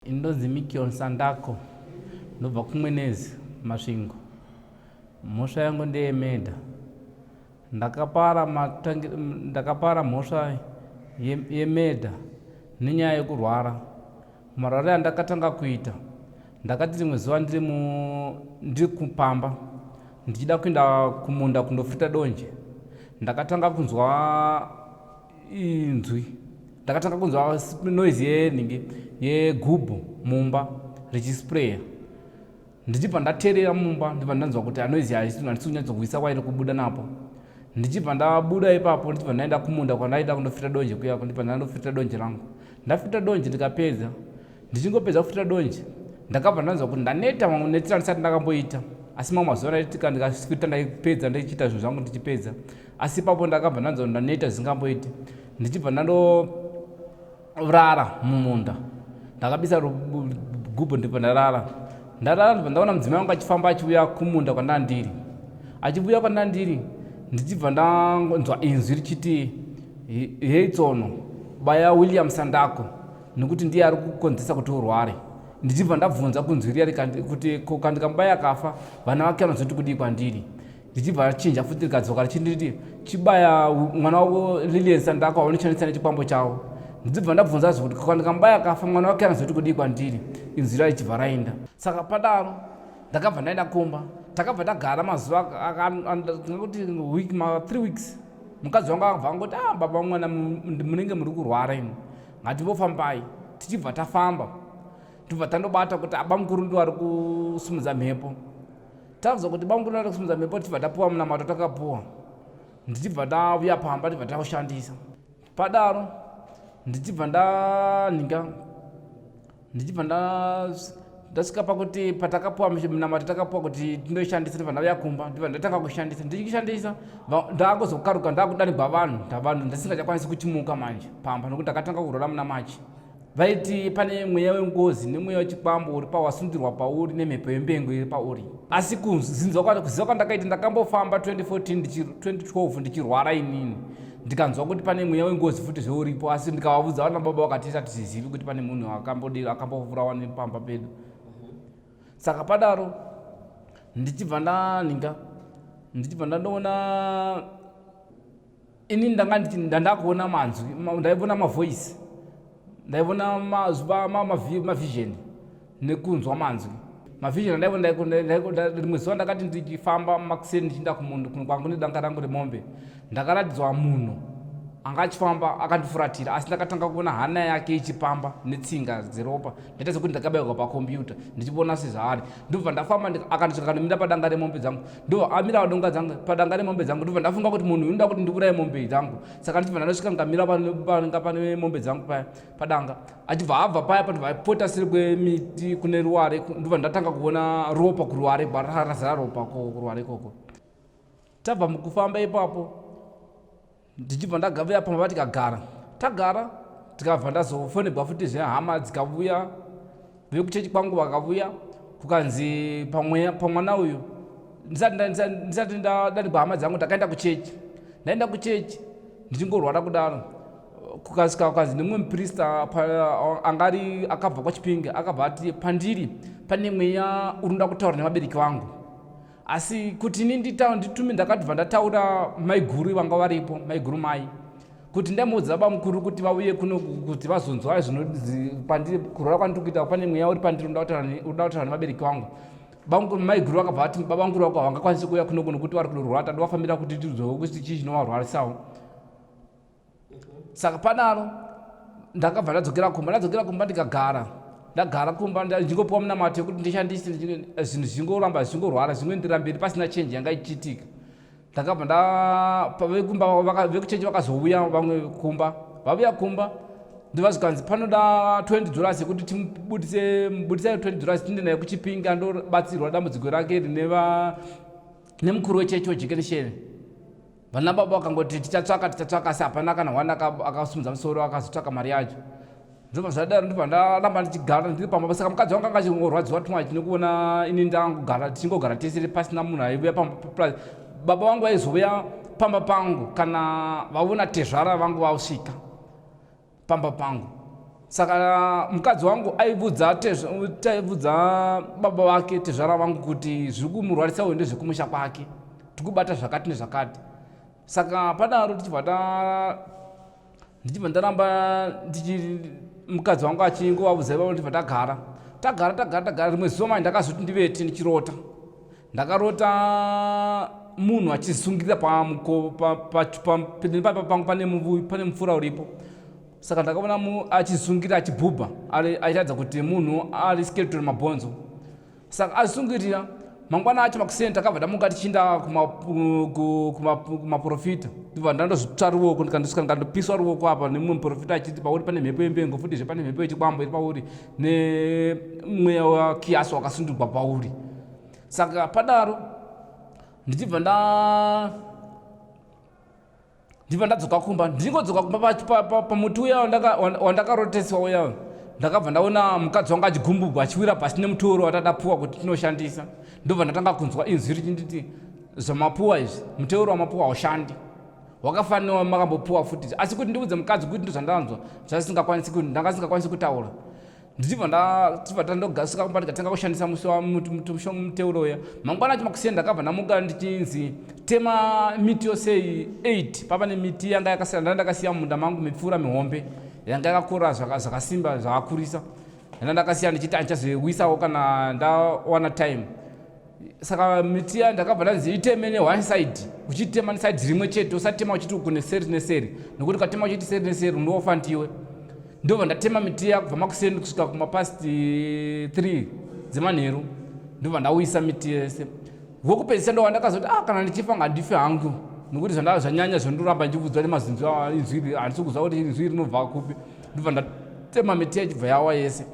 ndonzi mikion sandako ndobva kumwenezi masvingo mhosva yangu ndeyemedha Ndakapara, matangi, ndakapara mhosva yemedha nenyaya yekurwara. Marware andakatanga kuita, ndakati rimwe zuva ndiri, mu, ndiri kupamba ndichida kuenda kumunda kundofita donje, ndakatanga kunzwa inzwi ndakatanga kunzwa noise yenhingi yegubhu mumba richisprayer Ndichibva ndaterera mumba ndibva ndanzwa kuti anoizi haisitu handisi kunyatsokuisa kwairi kubuda napo ndichibva ndabuda ipapo ndichibva ndaenda kumunda kwandaida kundofita donje kuyako ndibva ndandofita donje rangu ndafita donje ndikapedza ndichingopedza kufita donje ndakabva ndanzwa kuti ndaneta mamwe netira ndisati ndakamboita asi mamwe mazuva ndaitika ndikafita ndaipedza ndichiita zvinhu zvangu ndichipedza asi ipapo ndakabva ndanzwa kuti ndaneta zvingamboiti ndichibva ndando rara mumunda ndakabisa gubhu ndipo ndarara ndarara ndipo ndaona mudzimai wangu achifamba achiuya kumunda kwandandiri achivuya kwandandiri ndichibva ndanzwa inzwi richiti hei tsono baya william sandako nekuti ndiye ari kukonzesa kuti urware ndichibva ndabvunza kunzwi riya kuti ko kandikamubaya akafa vana vake vanozoti kudii kwandiri ndichibva achinja futi rikadzoka richinditi chibaya mwana wavo lilian sandaka waunoshandisa nechikwambo chavo ndichibva ndabvunza zve kuti kana ndikamubaya akafa mwana wake anozoti kudii kwandiri inzwi rai chibva rainda saka padaro ndakabva ndaenda kumba takabva tagara mazuva kuti week ma three weeks mukadzi wangu akabva angoti ah baba mwana munenge muri kurwara imi ngatimbofambai tichibva tafamba tibva tandobata kuti abamukuru ndiwari kusimudza mhepo tanzwa kuti bamukuru vanoda kusimudza mhepo tichibva tapuwa munamato takapuwa ndichibva ndavuya pamba tichibva taushandisa padaro ndichibva ndanhinga ndichibva ndasvika pakuti patakapuwa munamato takapuwa kuti tinoishandisa ndibva ndauya kumba ndibva ndatanga kushandisa ndichishandisa ndaakuzokaruka ndaakudanigwa vanhu ndavanhu ndasingachakwanisi kuchimuka manje pamba nokuti ndakatanga kurora muna machi vaiti pane mweya wengozi nemweya wechikwambo uri pawasundirwa pauri nemhepo yembengo iri pauri asi kuziva kwandakaita ndakambofamba 2014 2012 ndichirwara inini ndikanzwa kuti pane mweya wengozi futi zveuripo asi ndikavavudza vana baba vakati isa tizizivi kuti pane munhu akambodii akambovurawa nepamba pedu saka padaro ndichibva ndaninga ndichibva ndandoona ini ndanga nditi ndandakuona manzwi ndaivona mavoice ndaivona mavision ma, ma, ma nekunzwa manzwi mavision ndaivona rimwe zuva ndakati ndichifamba makuseni ndichiinda kumunhu kwangu nedanga rangu remombe ndakaratidzwa munhu anga achifamba akandifuratira asi ndakatanga kuona hana yake ichipamba netsinga dzeropa ndaita sekuti ndakabairwa pakombiyuta ndichivona sezvaari ndobva ndafamba akandisvika kandomira padanga remombe dzangu ndo amira donga dzangu padanga remombe dzangu ndobva ndafunga kuti munhu unoda kuti ndivuraye mombe dzangu saka ndichibva ndanosvika ngamira panga pane mombe dzangu paya padanga achibva abva paya panhu vaipota siri kwemiti kune ruware ndobva ndatanga kuona ropa kuruware bararazara ropa kuruware ikoko tabva mukufamba ipapo ndichibva ndagavuya pamba vatikagara tagara tikabva ndazofonebwa futi zvehama dzikavuya vekuchechi kwangu vakavuya kukanzi pamwana uyu ndisati ndadanigwa hama dzangu ndakaenda kuchechi ndaenda kuchechi ndichingorwara kudaro kukasika kukanzi nemumwe muprista angari akabva kwachipinge akabva ati pandiri pane mweya unoda kutaura nevabereki vangu asi kuti ini nditaura nditume ndakatibva ndataura maiguru vanga varipo maiguru mai kuti ndamuudza baba mukuru kuti vauye kuno kuti vazonzwa zvinonzi pandiri kurora kwandiri kuita pane mweya uri pandiri unoda kutaura nevabereki vangu maiguru vakabva vati baba mukuru vako havangakwanisi kuuya kuno kuno kuti vari kunorwara tadi vafambira kuti tizoe kuti chii chinovarwarisawo saka panalo ndakabva ndadzokera kumba ndadzokera kumba ndikagara ndagara kumba ndichingopiwa munamato yekuti ndishandise eh, zvinhu zvingoramba zvichingorwara zvingoenderera mberi pasina chenji yanga ichiitika ndakabva ndavekuumba vekuchenji vakazouya vamwe kumba vavuya kumba ndova zvikanzi panoda 20 dollars yekuti timubudise mubudisai 20 dollars tinde naye kuchipinga ndobatsirwa dambudziko rake rine nemukuru wechechi wejekenisheni vana baba vakangoti tichatsvaka tichatsvaka asi hapana kana one akasimudza musoro akazotsvaka mari yacho ndobva zvadaro ndobva ndaramba ndichigara ndiri pamba pasaka mukadzi wangu anga achingorwadziwa tuma chinekuona ini ndangogara tichingogara tesere pasina munhu aivuya pamba plus baba vangu vaizovuya pamba pangu kana vaona tezvara vangu vasvika pamba pangu saka mukadzi wangu aivudza taivudza baba vake tezvara vangu kuti zviri kumurwarisa uende zvekumusha kwake tikubata zvakati nezvakati saka padaro tichibva ta ndichibva ndaramba ndichi mukadzi wangu achingo vavudza ivavo ndichibva tagara tagara tagara tagara rimwe zuva mai ndakazoti ndivete ndichirota Ndakarota munhu achizungirira pamuko pamberi pa, pa, pa, pangu pane muvuvi pane mupfura uripo saka ndakaona achizungirira achibhubha aitaridza kuti munhu ari skeleton mabhonzo saka azungirira mangwana acho makuseni takabva tamuka tichiinda kumaprofita ndibva ndandozvitsva ruoko ndikandisvika ndikandopiswa ruoko apa nemumwe muprofita achiti pauri pane mhepo yembengo futizve pane mhepo yechikwambo iri pauri nemweya wakiyasi wakasundirwa pauri saka padaro ndichibva nda ndichibva ndadzoka kumba ndichingodzoka kumba pamuti uya wandakaroteswa uya ndakabva ndaona mukadzi wangu achigumbugwa achiwira pasi nemutoro watadapuwa kuti tinoshandisa ndobva ndatanga kunzwa inzwi richinditi zvamapuwa izvi muteuro wamapuwa haushandi wakafanira makambopuwa futi asi kuti ndiudze mukadzi kuti ndozvandanzwa zvasingakwanisi kuti ndanga singakwanisi kutaura ndichibva ndachibva tandogasuka kumba ndikatanga kushandisa musi wamushonga muteuro uya mangwana acho makusiya ndakabva ndamuka ndichinzi tema miti yose 8 pava nemiti yanga yakasiya ndanga ndakasiya munda mangu mipfuura mihombe yanga yakakura zvakasimba zvakakurisa yanga ndakasiya ndichiti andichazoiwisawo kana ndawana time saka miti ya ndakabva ndanzi iteme ne one side uchitema ne side rimwe chete usatema uchiti kune seri ne seri nokuti ukatema uchiti seri ne seri unofa ndiwe ndobva ndatema miti ya kubva makuseni kusvika kuma past 3 dzemanheru ndobva ndauyisa miti yese wokupedzisa ndova ndakazoti ah kana ndichifa ngandifi hangu nokuti zvandava zvanyanya zvondoramba ndichivudzwa nemazinzi inzwi handisi kuziva kuti inzwi rinobva kupi ndobva ndatema miti yachibva yawa yese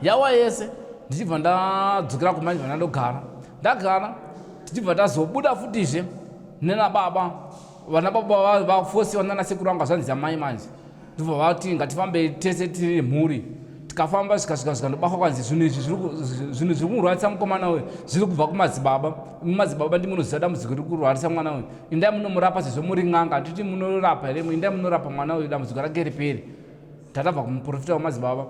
yawa yese ndichibva ndadzokera kumba ndichibva ndandogara ndagara tichibva tazobuda futizve nenababa vana baba vafosiwa nana sekuru anga zvanzi amai manje ndibva vati ngatifambe tese tiri mhuri tikafamba zvikasvika zvika ndobafa kwanzi zvinhu izvi zvinhu zviri kumurwarisa mukomana uyu zviri kubva kumadzibaba mumadzibaba ndi munoziva dambudziko riri kurwarisa mwana uyu indai munomurapa sezvo muri n'anga titi munorapa here indai munorapa mwana uyu dambudziko rake riperi takabva kumuprofita wemadzibaba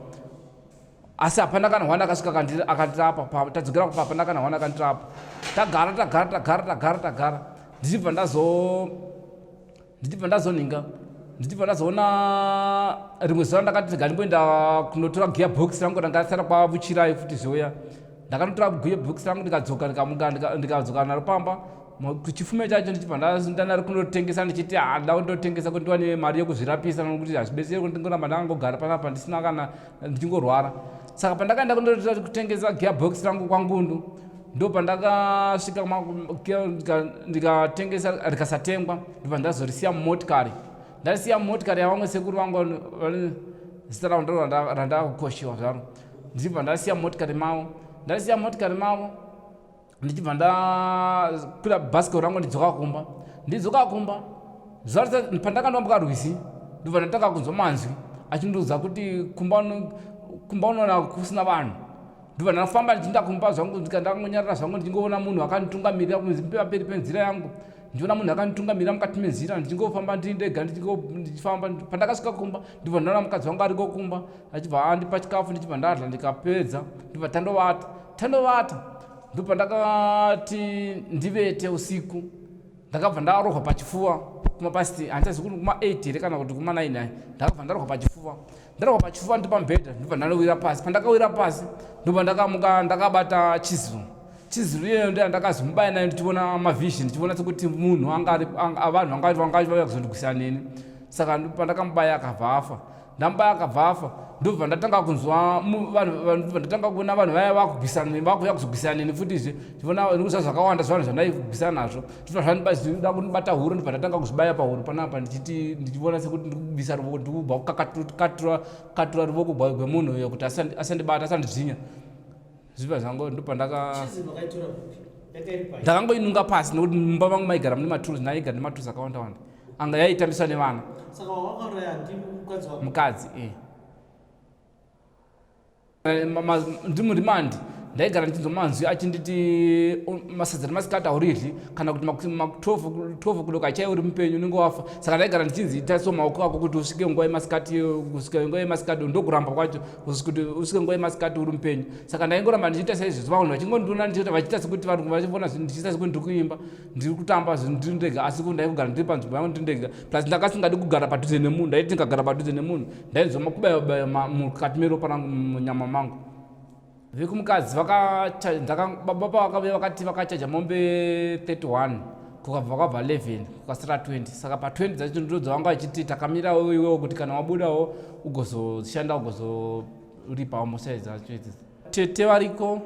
asi hapana kana hwana akasvika akandirapa tadzokera kupa hapana kana hwana akandirapa tagara tagara tagara tagara tagara ndichibva ndazo ndichibva ndazonhinga ndichibva ndazoona rimwe zuva ndakati rega ndimboenda kunotora gear box rangu ranga risara kwavuchirai futi zvoya ndakanotora guye bhokisi rangu ndikadzoka ndikamuka ndikadzoka naro pamba chifume chacho ndichibva ndanari kunotengesa ndichiti handa kundotengesa kuti ndiwane mari yekuzvirapisa nokuti hazvibetseri kuti ndingoramba ndakangogara panapa ndisina kana ndichingorwara saka pandakaenda kundotengesa gearbox rangu kwangundu ndo pandakasvika ndikatengesa rikasatengwa ndibva ndazorisiya mumotikari ndarisiya mumotikari yavamwe sekuru vangu zita ravo ndo randakukoshiwa zvaro ndichibva ndasiya motikari mavo ndasiya motikari mavo ndichibva ndakwira bhasikoro rangu ndidzoka kumba ndidzoka kumba pandakandambuka rwizi ndobva ndatanga kunzwa manzwi achindiudza kuti kumba unoona kusina vanhu ndobva ndafamba ndichiinda kumba zvangu ndikandangonyarira zvangu ndichingoona munhu akanditungamirira kunzi pamberi penzira yangu ndiona munhu akanditungamira mukati menzira ndichingofamba ndiri ndega ndichifamba pandakasvika kumba ndibva ndaona mukadzi wangu ariko kumba achibva andipa chikafu ndichibva ndadla ndikapedza ndibva tandovata tandovata ndopandakati ndivete usiku ndakabva ndarohwa pachifuva kumapasti handichazi kuti kuma 8 here kana kuti kuma 9 ndakabva ndarohwa pachifuva ndarohwa pachifuva ndipa mbhedha ndobva ndanowira pasi pandakawira pasi ndobva ndakamuka ndakabata chiziro chiziro iyeyo ndiya ndakazomubaya nayo ndichiona mavision ndichiona sekuti munhu vanhu vanga vauya kuzondigwisira neni saka pandakamubaya akabva afa ndamubaya akabva afa ndobva ndatanga kunzwa ndatanga kuona vanhu vaya vakugwisana neni vakuuya kuzogwisana neni futizve ndivona ndikuziva zvakawanda zvevanhu zvandaigwisana nazvo ndibva zvandibaida kundibata huro ndibva ndatanga kuzvibaya pahuro panapa ndichiti ndichivona sekuti ndikubisa ruvoko ndikubva kukakatura ruvoko gwemunhu uyo kuti asandibata asandizvinya zviva zvangu ndopa ndaka ndakangoinunga pasi nekuti mumba vangu maigara mune maturusi ndaigara nematrusi akawanda wanda anga yaitambiswa nevana saka wawakauraya ndimukadzi wako mukadzi eh. Eh, ndimu remand ndaigara ndichinzwa manzwi achinditi masadza remasikati auriryi kana kuti maku12 kudoka achaive uri mupenyu unenge wafa saka ndaigara ndichinzi itaiso maoko ako kuti usvike nguva yemasikati kusvika nguva yemasikati ndokuramba kwacho kuti usvike nguva yemasikati uri mupenyu saka ndaingoramba ndichiita saizvezvo vanhu vachingondiona ndichiita vachiita sekuti vanhu vachivona ndichiita sekuti ndiri kuimba ndiri kutamba zvinhu ndiri ndega asi ko ndai kugara ndiri panzvimbo yangu ndiri ndega plus ndakasingadi kugara padhuze nemunhu ndaiti ndikagara padhuze nemunhu ndainzwa makubayabaya mukati meropa rangu munyama mangu vekumukadzi baba vakave vakati vakachaja mombe 31 kukabva kwabva 11 kukasira 20 saka pa 20 dzacho ndo dzavanga vachiti takamirawo iwewo kuti kana wabudawo ugozoshanda ugozoripawo mosai dzacho idzidzi tete variko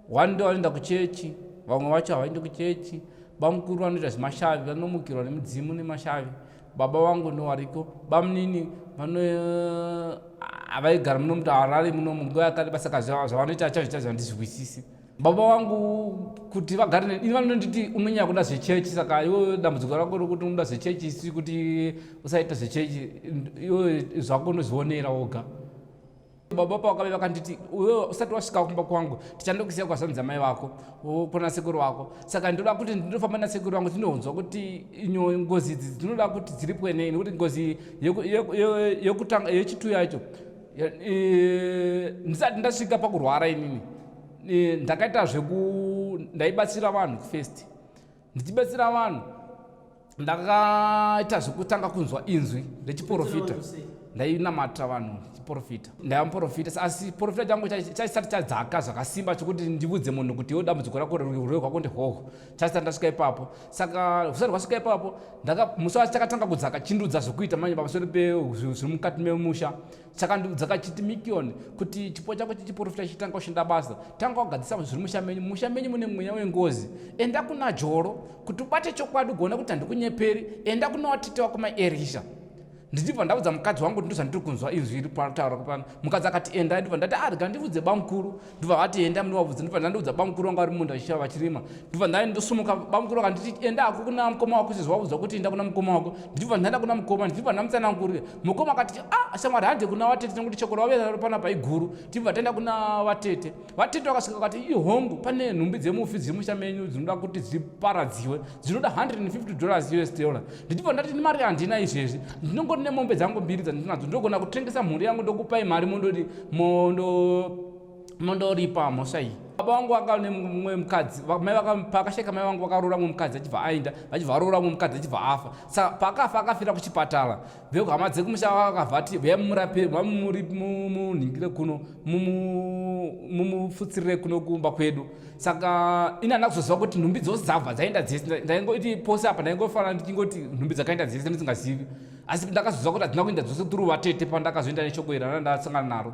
one day vanoenda kuchechi vamwe vacho havaendi kuchechi bamukuru vanoita zvemashavi vanomukirwa nemudzimu nemashavi baba vangu ndovariko bamunini vano havaigara muno muti harare muno munguva yakati basaka zvavanoita achazviita zvandizvihwisisi baba vangu kuti vagare ne ini vanonditi unonyanya kuda zvechechi saka iwo dambudziko rako rokuti unoda zvechechi isi kuti usaita zvechechi iwo zvako unozvionera woga baba pavakave vakanditi iwe usati wasvika kumba kwangu tichandokusiya kwazvanzi amai vako kuna sekuru vako saka ndinoda kuti ndinofamba nasekuru vangu tinonzwa kuti inyo ngozi idzi dzinoda kuti dziripwe nei nekuti ngozi yekutanga yechitu yacho ndisati ndasvika pakurwara inini ndakaita zveku ndaibatsira vanhu first ndichibatsira vanhu ndakaita zvekutanga kunzwa inzwi rechiporofita ndainamata vanhu chiporofita ndaiva muporofita asi porofita changu chaisati chadzaka zvakasimba chokuti ndivudze munhu kuti iwo dambudziko rako rurwere rwako ndehoho chaisati ndasvika ipapo saka usati rwasvika ipapo musi wacho chakatanga kudzaka chindudza zvekuita manje pamusoro pezviri mukati memusha chakandiudza kachiti mikioni kuti chipo chako chechiporofita chitanga kushanda basa tanga wagadzisa zviri musha menyu musha menyu mune mweya wengozi enda kuna joro kuti ubate chokwadi ugoona kuti handikunyeperi enda kuna watete wako maerisha ndichibva ndaudza mukadzi wangu kuti ndozvandiri kunzwa izwi iri pataura kupano mukadzi akati enda ndibva ndati arega ah, ndivudze bamukuru ndobva vati enda munowabvudza ndobva ndandoudza bamukuru vanga vari munda vachishava vachirima ndobva ndai ndosumuka bamukuru vanga nditi enda hako kuna mukoma wako sezvawabvudza kuti enda kuna mukoma wako ndichibva ndaenda kuna mukoma ndichibva ndamutsanangurira mukoma akati a ah, shamwari hande kuna vatete nekuti chokora wavera pana paiguru tibva taenda kuna vatete vatete vakasvika vakati ihongu pane nhumbi dzemufi dziri musha menyu dzinoda kuti dziparadziwe dzinoda 150 dollars us dollar ndichibva ndati mari handina izvezvi ndinongoti nemombe dzangu mbiri dzandinadzo ndogona kutengesa mhuri yangu ndokupai mari mondoti mondo mondoripa mhosva iyi baba vangu vaka nemumwe mukadzi mai pakasheka mai vangu vakaroora mumwe mukadzi achibva aenda vachibva varoora mumwe mukadzi achibva afa saka paakafa akafira kuchipatara vehama dzekumusha vakavati vaya mumurape vamuri munhingire kuno mumufutsirire kuno kumba kwedu saka ini andina kuzoziva kuti nhumbi dzose dzabva dzaenda dzese ndaingoti pose apa ndaingofanira ndichingoti nhumbi dzakaenda dzese ndisingazivi asi ndakazoziva kuti hadzina kuenda dzose tiri vatete pandakazoenda neshoko iri randasangana naro